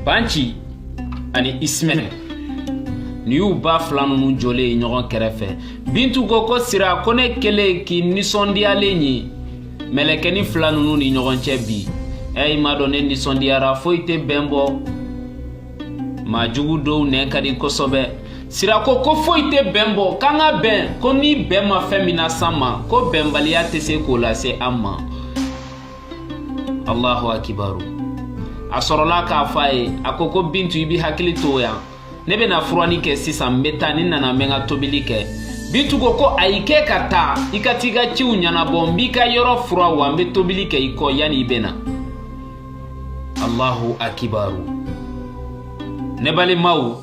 Banci ani Ismaɛl nin y'u ba fila ninnu jɔlen ye ɲɔgɔn kɛrɛfɛ bintu ko ko sira ko ne kɛlen k'i nisɔndiyalen ye mɛlɛkɛni fila ninnu ni ɲɔgɔn cɛ bi ɛ i m'a dɔn ne nisɔndiyara foyi tɛ bɛn bɔ maa jugu dɔw nɛn ka di kosɛbɛ sira ko ko foyi tɛ bɛn bɔ k'an ka bɛn ko ni bɛn ma fɛn min nas'an ma ko bɛnbaliya tɛ se k'o lase an ma allahu akibaru a sɔrɔla k'a fɔ a ye a ko ko bintu i b'i hakili to yan ne bɛna furanni kɛ sisan n bɛ taa ni n nana n bɛ n ka tobili kɛ bintu ko ko ayi k'e ka taa i ka t'i ka ciw ɲɛnabɔ n b'i ka yɔrɔ furan wa n bɛ tobili kɛ i kɔ yanni i bɛ na allahu akibaru ne balimaw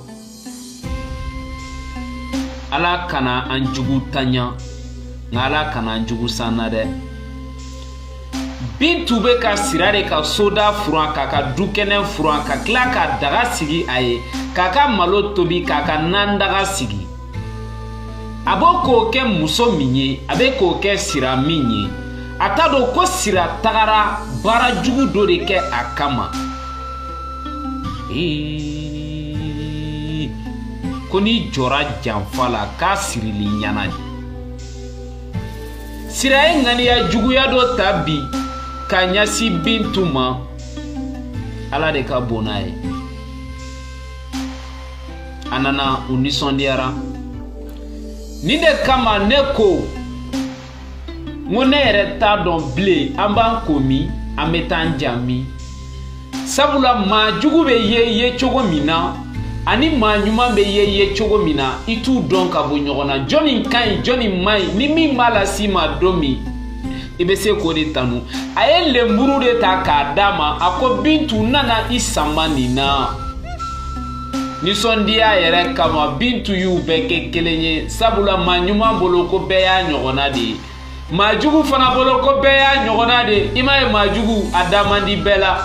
ala kana an juguntanya nka ala kana an jugu sanna dɛ bintu bɛ ka sira de ka soda furan k'a ka dukɛnɛ furan ka tila ka daga sigi a ye k'a ka malo tobi k'a ka nandaga sigi a bɛ k'o kɛ muso min ye a bɛ k'o kɛ sira min ye a t'a dɔn ko sira tagara baara jugu dɔ de kɛ a kama ko n'i jɔra janfa la k'a sirili ɲana de sira ye ŋaniya juguya dɔ ta bi ka ɲɛsin bintu ma ala de ka bon n'a ye a nana u nisɔndiyara nin de kama ne ko n ko ne yɛrɛ t'a dɔn bilen an b'an ko min an bɛ taa an ja min sabula maa jugu bɛ ye ye cogo min na ani maa ɲuman bɛ ye ye cogo min na i t'u dɔn ka bɔ ɲɔgɔn na jɔni ka ɲi jɔni man ɲi ni min b'a las'i ma don min i bɛ se k'o de tanu a ye lenburuden ta k'a d'a ma a ko bintu n nana i sama nin na Nisɔndiya yɛrɛ kama bintu y'u bɛɛ kɛ kelen ye sabula maa ɲuman bolo ko bɛɛ y'a ɲɔgɔnna de ye maa jugu fana bolo ko bɛɛ y'a ɲɔgɔnna de ye i m'a ye maa jugu a da man di bɛɛ la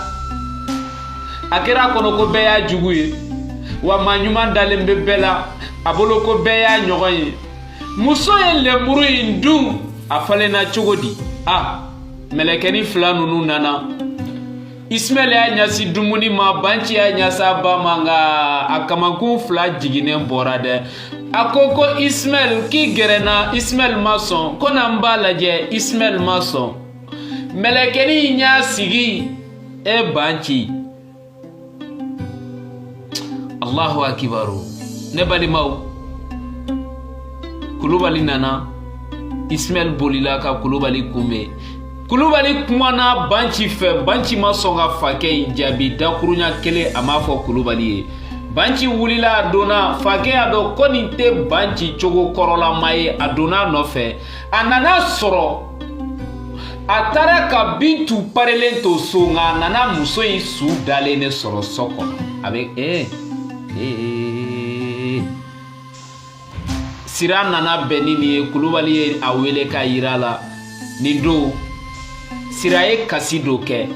a kɛra a kɔnɔ ko bɛɛ y'a jugu ye wa maa ɲuman dalen bɛ bɛɛ la a bolo ko bɛɛ y'a ɲɔgɔn ye muso ye lenburu in dun a falenna cogo di a mɛlɛkɛni fila ninnu nana Ismaɛl y'a ɲɛsin dumuni ma banci y'a ɲɛsin a ba ma nka a kamankun fila jiginnen bɔra dɛ a ko ko Ismaɛl k'i gɛrɛ n na Ismaɛl ma sɔn ko na n b'a lajɛ Ismaɛl ma sɔn mɛlɛkɛnin in y'a sigi e banci allahu akibaru ne balimaw kulubali nana ismail bolila ka kulubali kunbɛn kulubali kumana banci fɛ banci ma sɔn ka fakɛ in jaabi dakuruɲa kelen a m'a fɔ kulubali ye banci wulila a donna fakɛ y'a dɔn ko nin tɛ banci cogo kɔrɔlama ye a donna a nɔfɛ a nana sɔrɔ a taara ka bintu parelen to so nka a nana muso in su dalen de sɔrɔ so kɔnɔ a bɛ ee ee sira nana bɛn ni nin ye kulubali ye a wele k'a yira a la nin don sira ye kasi dɔ kɛ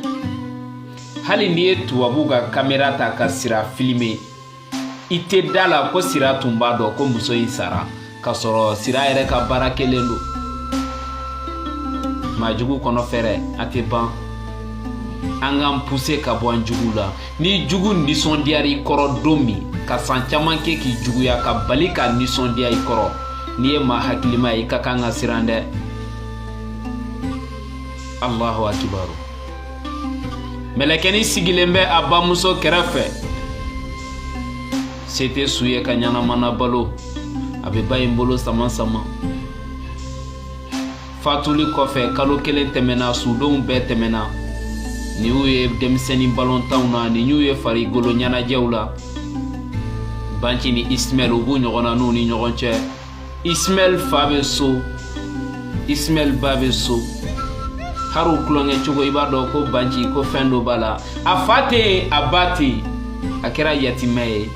hali n'i ye tubabu ka kamera ta ka sira filime i tɛ da a la ko sira tun b'a dɔn ko muso in sara k'a sɔrɔ sira yɛrɛ ka baara kɛlen don maajugu kɔnɔ fɛɛrɛ a tɛ ban an k'an puse ka bɔ an jugu la n'i jugu nisɔndiyara i kɔrɔ don min ka san caman kɛ k'i juguya ka bali ka nisɔndiya i kɔrɔ n'i ye maa hakilima ye i ka kan ka siran dɛ allahu akibaru mɛlɛkɛnin sigilen bɛ a bamuso kɛrɛfɛ se tɛ su ye ka ɲɛnamana balo a bɛ ba in bolo sama sama fatuli kɔfɛ kalo kelen tɛmɛna sudenw bɛɛ tɛmɛna nin y'u ye denmisɛnnin balontanw na nin y'u ye farikolo ɲɛnajɛw la banci ni ismaɛl u b'u ɲɔgɔn na n'u ni ɲɔgɔn cɛ ismaɛl fa bɛ so ismaɛl ba bɛ so hari u tulonkɛ cogo i b'a dɔn ko banci ko fɛn dɔ b'a la a fa tɛ yen a ba tɛ yen a kɛra yatimɛ ye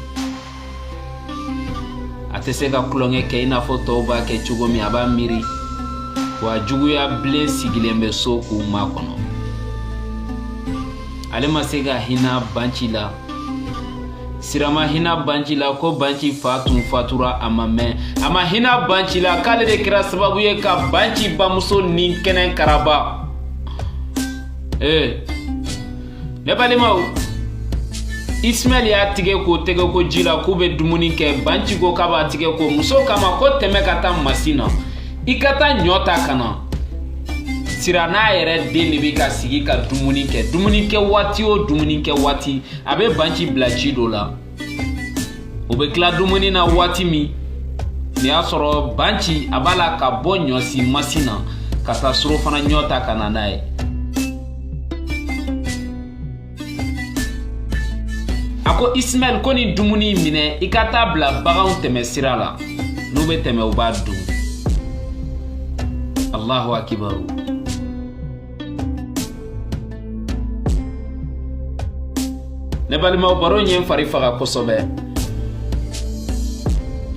a tɛ se ka tulonkɛ kɛ i n'a fɔ tɔw b'a kɛ cogo min a b'a miiri wa juguya bilen sigilen bɛ so k'u makɔnɔ ale ma se ka hinɛ banci la sira ma hina banci la ko banci fa tun fatura a ma mɛn a ma hina banci la k'ale de kɛra sababu ye ka banci bamuso ni kɛnɛ karaba ee ne balimaw ismaɛl y'a tigɛ ko tɛgɛkoji la k'u bɛ dumuni kɛ banci ko k'a b'a tigɛ ko muso k'a ma ko tɛmɛ ka taa masin na i ka taa ɲɔ ta ka na sira n'a yɛrɛ den de bɛ ka sigi ka dumuni kɛ dumuni kɛ waati o dumuni kɛ waati a bɛ banci bila ci dɔ la o bɛ tila dumuni na waati min nin y'a sɔrɔ banci a b'a la ka bɔ ɲɔsi masin na ka taa surɔfana ɲɔ ta ka na n'a ye a ko isimaɛl ko nin dumuni minɛ i ka taa bila baganw tɛmɛ sira la n'u bɛ tɛmɛ u b'a dun allahu akibaru ne balimaw baro in ye n fari faga kosɛbɛ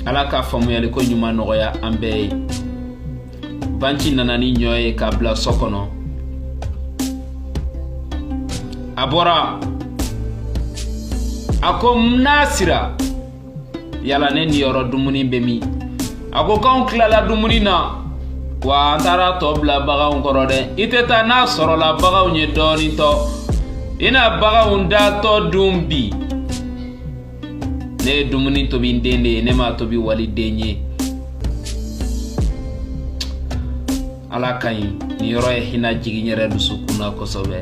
ala ka faamuyali ko ɲuman nɔgɔya an bɛɛ ye banci nana ni ɲɔ ye k'a bila so kɔnɔ a bɔra a ko nasira yala ne niyɔrɔ dumuni bɛ min a ko k'anw tilala dumuni na wa an taara tɔ bila baganw kɔrɔ dɛ i tɛ taa n'a sɔrɔla baganw ye dɔɔnin to i na baganw datɔ dun bi ne ye dumuni tobi n den de ye ne m'a tobi waliden ye ala ka ɲi nin yɔrɔ ye hinɛ jigin n yɛrɛ dusukun na kosɛbɛ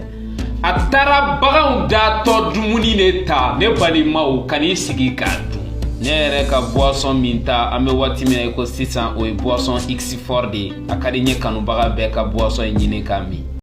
a taara baganw datɔ dumuni de ta ne balimaw ka n'i sigi k'a dun ne yɛrɛ ka buwasɔn minta an bɛ waati min na i ko sisan o ye buwasɔn x fort de ye a ka di n ye kanubaga bɛɛ ka buwasɔn in ɲini k'a min